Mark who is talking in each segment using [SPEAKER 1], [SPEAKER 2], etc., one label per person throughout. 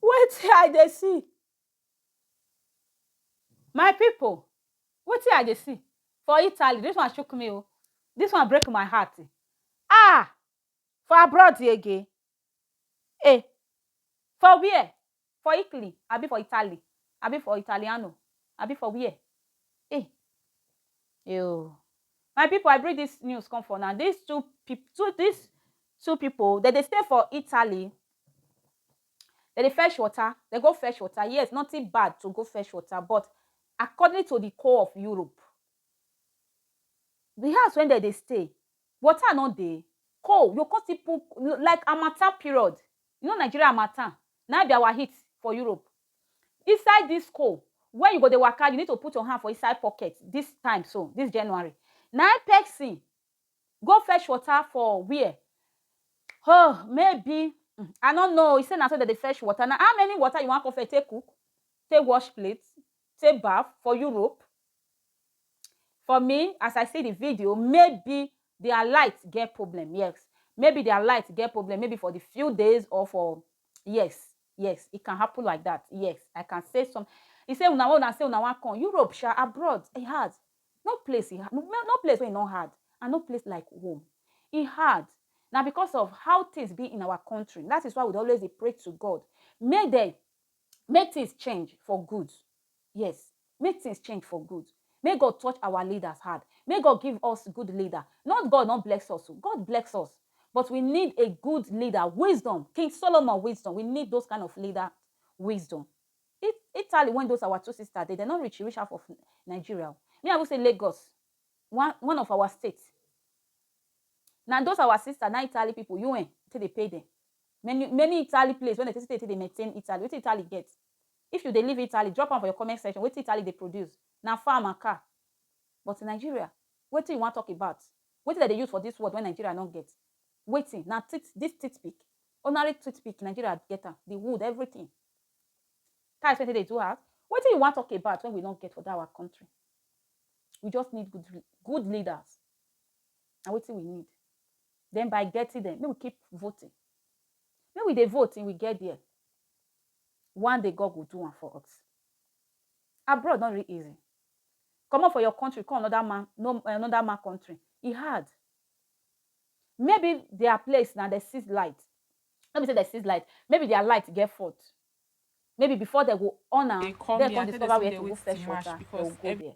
[SPEAKER 1] Wetin I dey see? My people, wetin I dey see for Italy, this one shook me o, this one break my heart ah! For abroad again? Eh! For where? For Italy abi for Italy abi for Italiano abi for where? Eh! Eeoh my people I bring this news come for una this two people this two people dem dey stay for Italy dem dey fetch water dem go fetch water yes nothing bad to go fetch water but according to the co of Europe the house wey dem dey stay water no dey cold you go come still put like harmattan period You know Nigeria harmattan na im be our heat for Europe. Inside this cold when you go dey waka you need to put your hand for inside pocket this time so this January na im person go fetch water for where oh maybe mm, I no know he say na so dem dey fetch water na how many water you wan come fetch take cook take wash plate take baff for Europe for me as I see the video maybe their light get problem yes maybe their light get problem maybe for the few days or for yes yes it can happen like that yes I can say some he say una wan una say una wan come Europe sha abroad e hard no place e hard no, no place wey e no hard and no place like home e hard na because of how things be in our country that is why we dey always dey pray to God make dem Make things change for good yes make things change for good make God touch our leaders hard make God give us good leader not God not bless us o God bless us but we need a good leader wisdom king Solomon wisdom we need those kind of leader wisdom It Italy when those our two sisters dey dem no reach reach half of Nigeria o me I even say Lagos one one of our state na those our sisters na Italy people UN take dey pay dem Many many Italy place wey dem take see take dey maintain Italy, wetin Italy get? If you dey live Italy drop am for your comment section wetin Italy dey produce? Na farm and car but Nigeria wetin you wan talk about? Wetin dem dey use for this world wey Nigeria no get? Wetin? Na teeth this teeth pick ordinary tooth pick Nigeria get am, the wood everything tiles wey dem take dey do house wetin you wan talk about wey we no get for that our country? We just need good good leaders na wetin we need. Then by getting them, make we keep voting. Make we dey vote till we get there. One day God will do one for us. Abroad not really easy. Come up for your country, come another man, no another man country. It hard. Maybe their place now they see light. Let me say they see light. Maybe their light get fault. Maybe before they go on and they come discover where to go fresh water. They go there.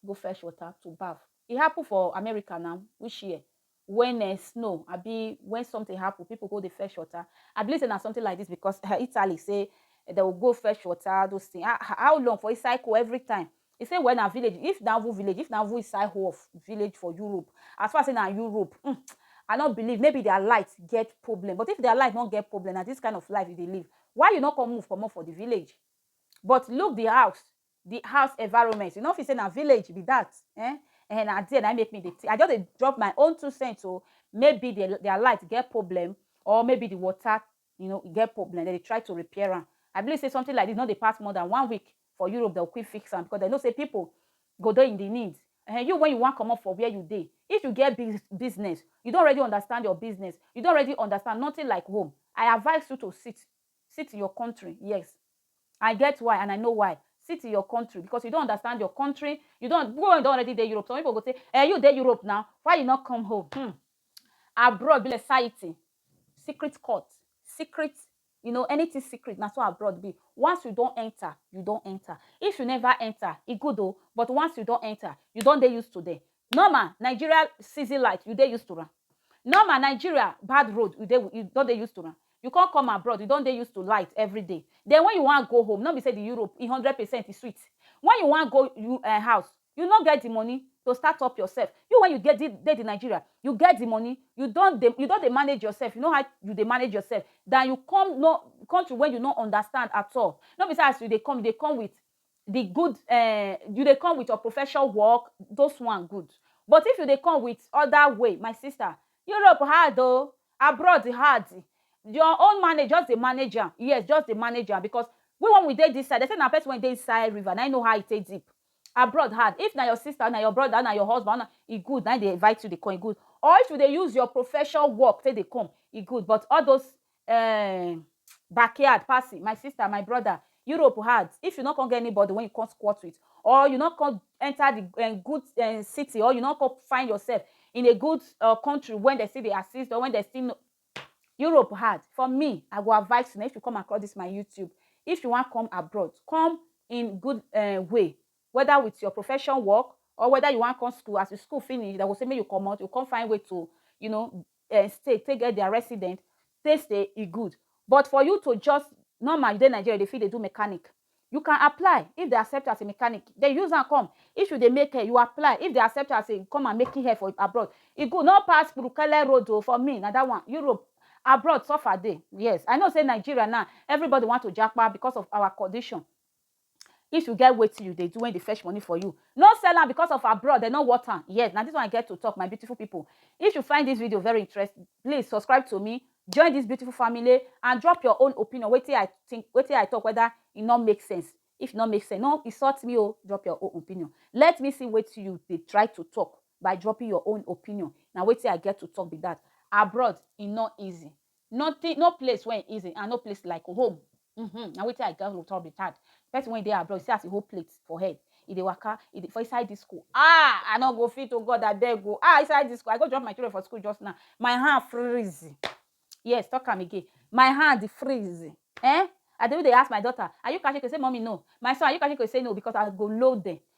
[SPEAKER 1] go fetch water to baff. E happen for America na which year when eh, snow abi when something happen people go dey fetch water. I believe say na something like this because eh, Italy say eh, they will go fetch water those things. Ah, ah, how long for inside cold every time? He say well na village if na even village if na even inside whole of village for Europe as far as say na Europe mm, I no believe maybe their light get problem but if their light no get problem na this kind of life you dey live why you no come move comot for the village but look the house the house environment you no feel say na village be that eh eh na there na make me dey i just dey drop my own two cents o maybe their their light get problem or maybe the water you know get problem dem dey try to repair am i believe say something like this no dey pass more than one week for europe dem quick fix am because dem know say people go dey in the need eh you when you wan comot for where you dey if you get big business you don already understand your business you don already understand nothing like home i advise you to sit Sit your country yes I get why and I know why sit your country because you don't understand your country you don't go and don already dey Europe some people go say eh you dey Europe now why you not come home hmm abroad be like society secret court secret you know anything secret na so abroad be once you don enter you don enter if you never enter e good o but once you don enter you don dey used to them Norma Nigeria season light you dey used to am Norma Nigeria bad road you dey you don dey used to am You come come abroad you don dey used to light everyday Then when you wan go home no be say the Europe e hundred percent e sweet When you wan go you eh house you no get the money to start up yourself You when you get the dey the Nigeria you get the money you don dey you don dey manage yourself you know how you dey manage yourself than you come no country wey you no understand at all No be say as you dey come you dey come with the good eh, you dey come with your professional work, those one good. But if you dey come with other way, my sister, Europe hard oh, abroad hard. Your own manage, just dey manage am. Yes, just dey manage am because we when we dey this side, they say na person when dey inside river, na him know how e take deep. Abroad hard. If na your sister, na your brother, na your husband, na e good, na him dey invite you dey come, e good. Or if you dey use your professional work take dey come, e good. But all those um backyard passing my sister my brother europe hard if you no come get anybody when you come squat with or you no come enter the um, good um, city or you no come find yourself in a good uh, country when they still dey assist or when they still no europe hard for me i go advise you na if you come across this my youtube if you wan come abroad come in good uh, way whether with your profession work or whether you wan come school as you school finish they go say make you comot you come find way to you know um state take get their resident they say e good but for you to just normal you dey nigeria you dey fit dey do mechanic you can apply if they accept you as a mechanic they use am come if you dey make hair you apply if they accept you as a come and making hair for abroad e good no pass burukele road o for me na that one europe abroad suffer dey yes i know say nigeria now everybody want to japa because of our condition If you get wetin you dey do wey dey fetch money for you, no sell am because of abroad dem no worth am. Yes, na this one I get to talk my beautiful people. If you find this video very interesting, please subscribe to me, join this beautiful family and drop your own opinion wetin I think, wetin I talk whether e no make sense. If e no make sense, no insult me o, drop your own opinion. Let me see wetin you dey try to talk by dropping your own opinion. Na wetin I get to talk be that. Abroad e no easy. Nothing, no place when easy and no place like home. Mm-hmm. Now wait I got to talk retard. Person when they are abroad, see as a whole plate for head. If they waka, if they, for inside this school. Ah, I not go fit to oh God, I dare go. Ah, inside this school. I go drop my children for school just now. My hand freeze. Yes, talk come again. My hand freeze. Eh? I do they ask my daughter, are you catching? Say, mommy, no. My son, are you catching? Say no, because I go load them.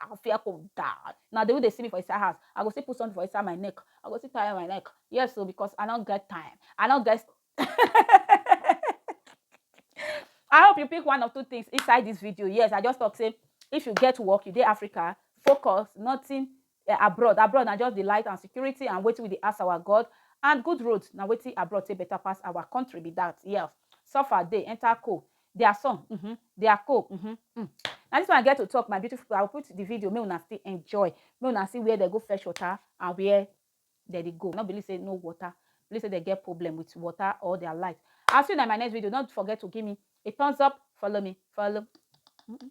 [SPEAKER 1] I go fear to die. Na the way they see me for inside house, I go still put something for inside my neck. I go still tie my neck. Yes, so because I don't get time. I don't get. I hope you pick one or two things inside this video. Yes, I just talk say if you get work, you dey Africa, focus, nothing uh, abroad. Abroad na just the light and security and waiting with the ask our God and good road. Now waiting abroad say better pass our country be that. Yes, suffer day enter cool. Their song uhmm their co uhmm uhmm na this one I get to talk my beautiful people I will put the video make una still enjoy make una see where dem go fetch water and where dem dey go no believe say no water believe say dem get problem with water or their light I will see una in my next video don't forget to give me a thumbs up follow me follow uhmm.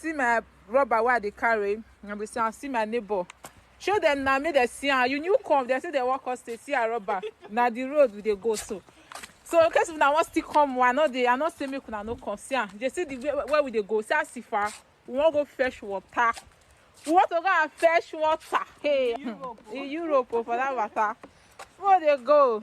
[SPEAKER 2] see my rubber wey i dey carry and be say i see my neighbor show dem na make dem see am you new come dem say dem wan come stay see her rubber na the road we dey go so so in case una wan still come i no dey i no say make una no come see am dey see the way where we dey go see as ifa we wan go fetch water we want to go and fetch water hey in europe o oh, for that matter we dey go.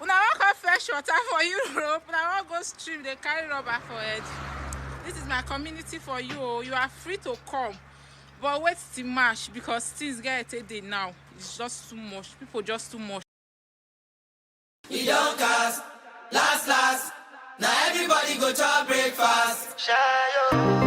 [SPEAKER 2] una wan come fresh water for europe una wan go stream dey carry rubber for head this is my community for you o oh. you are free to come but wait till march because things get take dey now it's just too much people just too much. e don cast last
[SPEAKER 3] last na everybody go chop breakfast. Shayo.